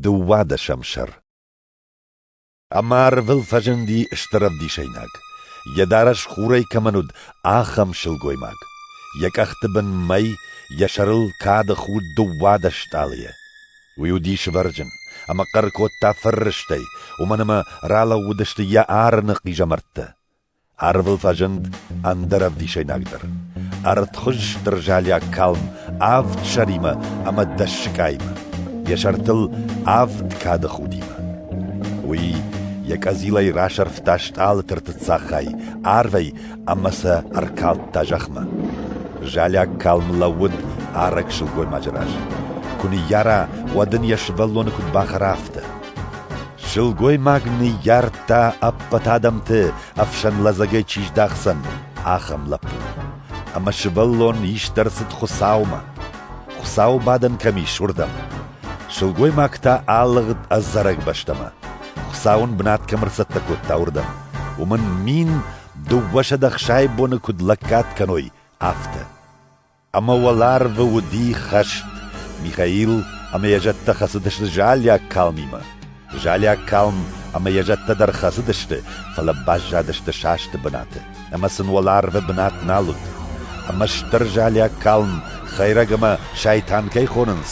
Дыууадӕсӕм сӕр Ӕмӕ арвыл фӕзынди стыр ӕвдисӕйнаг, йӕ дарӕс хурӕй кӕмӕн уыд, ахӕм сылгоймаг, йӕ къӕхты бын мӕй, йӕ сӕрыл кады худ дыууадӕс стъалыйӕ. Уый уыди сывӕрджын, ӕмӕ хъӕр кодта фыррыстӕй, уымӕн ӕмӕ ралӕууыдысты йӕ арыны хъизӕмӕрттӕ. Арвыл фӕзынд ӕндӕр ӕвдисӕйнаг дӕр, ӕртхуыз стыр залиаг калм авд сӕримӕ ӕмӕ дӕс сыкъаимӕ, йӕ сӕртыл авд кады худимӕ. Уый йӕ къӕдзилӕй расӕрфта стъалыты ртыццаг хай арвӕй ӕмӕ сӕ ӕркалдта зӕхмӕ. Залиаг калм лӕууыд арӕг сылгоймаджы раз. Куы ныййара, уӕд ын йӕ сывӕллоны куыд бахӕра, афтӕ. Сылгоймаг ныййардта ӕппӕт адӕмты ӕфсӕн лӕдзӕгӕй чи здахдзӕн, ахӕм лӕппу. Ӕмӕ сывӕллон ист ӕрцыд Хуыцаумӕ. Хуыцау бадӕн кӕм ис, уырдӕм. Сылгоймаг та алыгъд ӕдзӕрӕг бӕстӕмӕ. Хуыцау ын бынат кӕм ӕрцӕттӕ кодта, уырдӕм. Уымӕн мин дыууӕсӕдӕ хсӕй боны куыд лӕггад кӕной, афтӕ. ӕмӕ уӕларвы уыди хӕст. Михаил ӕмӕ йӕ зӕдтӕ хӕцыдысты залиаг калмимӕ. Залиаг калм ӕмӕ йӕ зӕдтӕ дӕр хӕцыдысты, фӕлӕ баззадысты састы бынаты, ӕмӕ сын уӕларвы бынат нал уыд. Ӕмӕ стыр залиаг калм, хӕйрӕг ӕмӕ сайтан кӕй хонынц,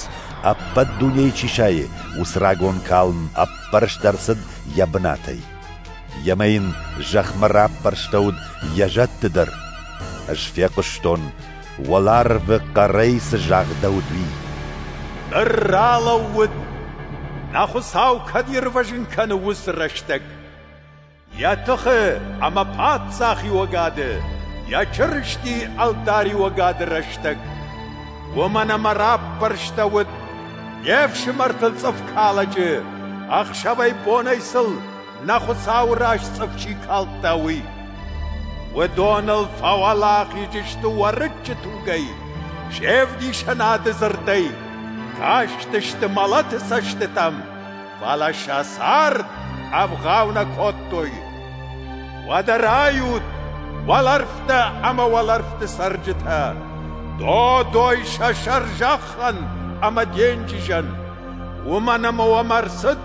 ӕппӕт дунейы чи сайы, уыцы рагон калм ӕппӕрст ӕрцыд йӕ бынатӕй. Йемӕ йын зӕхмӕ раппӕрстӕуыд йӕ зӕдты дӕр. Ӕз фехъуыстон, уӕларвы хъӕрӕй цы загъдӕуыд, уый. Ныр ралӕууыд, нӕ Хуыцау кӕд ирвӕзын кӕны уыцы рӕстӕг. Йӕ тыхы ӕмӕ паддзахиуӕгады, йӕ Чырысти ӕлдариуӕгады рӕстӕг. Уымӕн ӕмӕ раппӕрстӕуыд Йе фсымӕртыл цъыф калӕджы, ӕхсӕвӕй-бонӕй сыл нӕ Хуыцауы раз цъыф чи калдта, уый. Уыдоныл фӕуӕлахиз сты уӕрыччы тугӕй, се вдисӕнады дзырдӕй, кастысты мӕлӕты цӕстытӕм. Фӕлӕ сӕ цард ӕвгъау нӕ кодтой. Уӕдӕ райут, уӕлӕрвтӕ ӕмӕ уӕлӕрвты цӕрджытӕ, додой сӕ сӕрзӕххӕн ӕмӕ денджызӕн. Уымӕн ӕмӕ уӕм ӕрцыд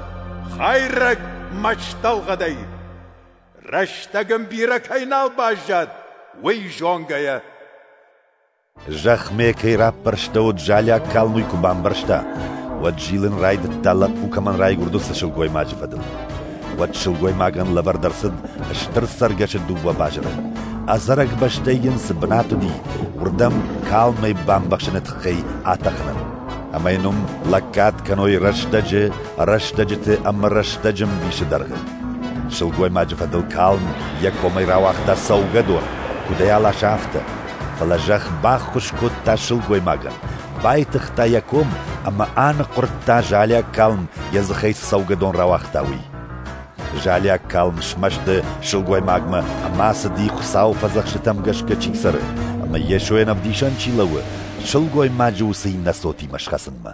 хӕйрӕг мӕстӕлгъӕдӕй. Рӕстӕг ын бирӕ кӕй нал баззад, уый зонгӕйӕ. Зӕхмӕ кӕй раппӕрстӕуыд залиаг калм уый куы бамбӕрста, уӕд зилын райдыдта лӕппу кӕмӕн райгуырды цы сылгоймаджы фӕдыл. Уӕд сылгоймагӕн лӕвӕрд ӕрцыд стыр цӕргӕсы дыууӕ базыры. Ӕдзӕрӕг бӕстӕй йын цы бынат уыди, уырдӕм калмӕй бамбӕхсыны тыххӕй атӕхынӕн. Ӕмӕ йын уым лӕггад кӕной рӕстӕджы, рӕстӕджыты ӕмӕ рӕстӕджы мбисы дӕргъы. Сылгоймаджы фӕдыл калм йӕ комӕй рауагъта цӕугӕдон, куыдӕй аласа, афтӕ. фӕлӕ зӕхх баххуыс кодта сылгоймагӕн, байтыгъта йӕ ком ӕмӕ аныхъуырдта залиаг калм йӕ дзыхӕй цы цӕугӕдон рауагъта, уый. Залиаг калм смӕсты сылгоймагмӕ ӕмӕ ацыди Хуыцауы фӕдзӕхстытӕм гӕсгӕ чи цӕры ӕмӕ Йесойӕн ӕвдисӕн чи лӕууы, сылгоймаджы уыцы иннӕ цотимӕ схӕцынмӕ.